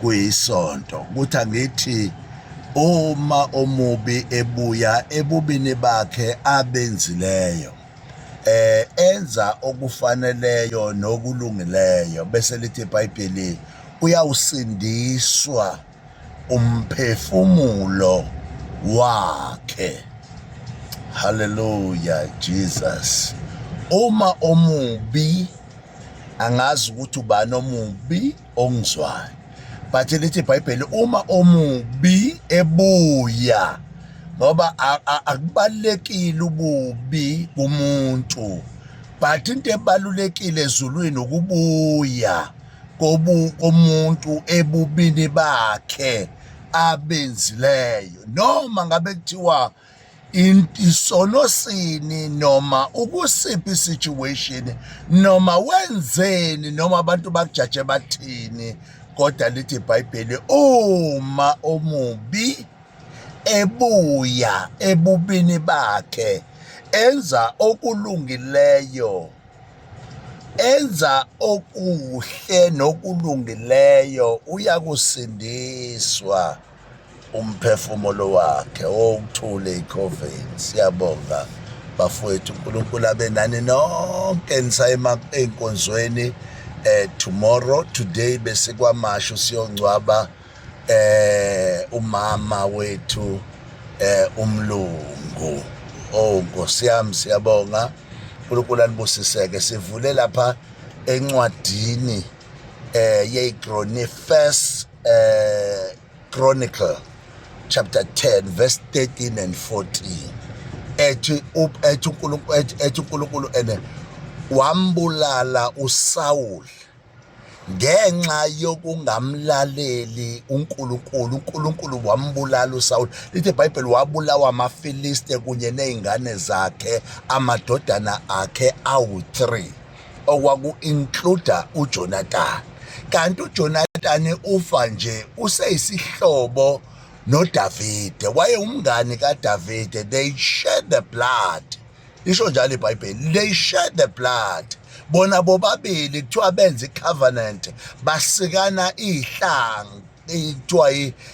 kuyisonto ukuthi angithi uma omubi ebuya ebubini bakhe abenzileyo eh enza okufaneleyo nokulungileyo bese lithi iBhayibheli uyawusindiswa umphefumulo wakhe haleluya jesus uma omubi angazi ukuthi ubani omubi ongizwayo but lithi ibhayibheli uma omubi ebuya ngoba akubalekile ububi kumuntu but into ebalulekile ezulwini ukubuya kobu komuntu ebubini bakhe abenzileyo noma ngabe kuthiwa isono sini noma ukusiphi situation noma wenzeni noma abantu bakujaje bathini kodwa lithi ibhayibheli uma omubi ebuya ebubini bakhe enza okulungileyo enza okuhle nokulungileyo uyakusindiswa umphefumulo wakhe owuthule icoven siyabonga bafowethu unkulunkulu abe nani nonke nisayema ey'nkonzweni eh tomorrow today besikwamasho siyongcwaba eh umama wethu eh umlungu oh nkosi yami siyabonga unkulunkulu anibusiseke sivule lapha encwadini eh yeyigroni first eh Chronicle chapter 10 verse 13 and 14 ethi ethi uNkulunkulu ethi uNkulunkulu ene wambulala uSaul ngenxa yokungamlaleli uNkulunkulu uNkulunkulu wambulala uSaul lithi iBhayibheli wabulawa amaFiliste kunye nezingane zakhe amadodana akhe awu3 okwaku-includa uJonatani. Kanti uJonatani ufa nje useyisihlobo noDavide, wayewumngani kaDavide. They shared the blood, lisho njalo iBhayibheli, they shared the blood. Bona bobabili kuthiwa benza i-covenant, basikana iy'hlanga kuthiwa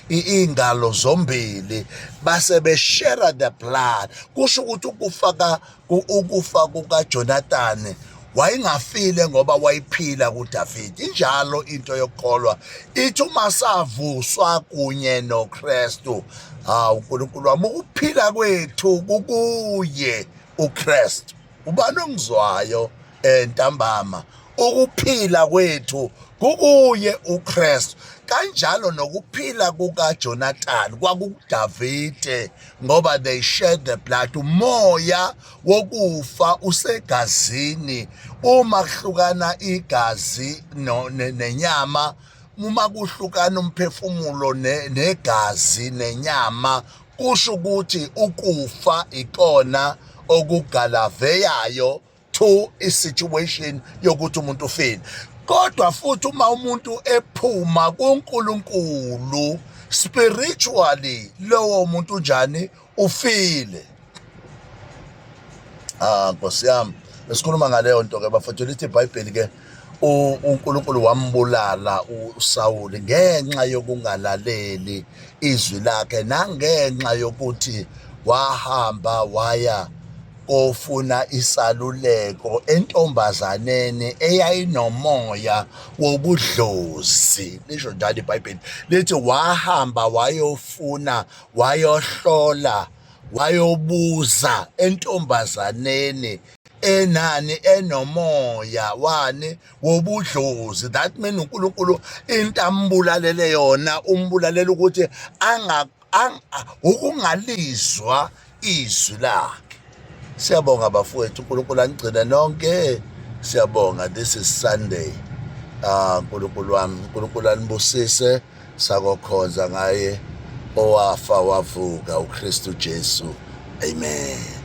iy'ngalo zombili base beshera the blood kusho ukuthi ukufa Ukufa kukaJonathani wayengafile ngoba wayiphila kuDavide. Injalo into yokukholwa ithi uma savuswa kunye noKristu, hawu uNkulunkulu wami, ukuphila kwethu kukuye uKristu. Ubani ongizwayo eh, ntambama? Ukuphila kwethu kukuye uKristu. Kanjalo nokuphila kukaJonathani kwakukuDavide ngoba they share the blood umoya wokufa usegazini uma kuhlukana igazi no, ne, nenyama uma kuhlukana umphefumulo ne, negazi nenyama kusho ukuthi ukufa ikona okugalaveyayo to isituation yokuthi umuntu ufile kodwa futhi uma umuntu ephuma kuNkulunkulu spiritually lowo muntu njani ufile ah nkosi yami esikhuluma ngaleyo nto ke bafethu lithi ibhayibheli ke uNkulunkulu wambulala uSawuli ngenxa yokungalaleli izwi lakhe nangenxa yokuthi wahamba waya kofuna isaluleko entombazaneni eyayinomoya wobudlozi lisho njalo ibhayibheli lithi wahamba wayofuna wayohlola wayobuza entombazaneni enani enomoya wani wobudlozi that mean uNkulunkulu into ambulalele yona umbulalela ukuthi anga ukungalizwa izwi lakhe siyabonga bafowethu uNkulunkulu anigcine nonke siyabonga this is Sunday ah uNkulunkulu wami uNkulunkulu anibusise sakokhonza ngaye owafa wavuka uKristu Jesu amen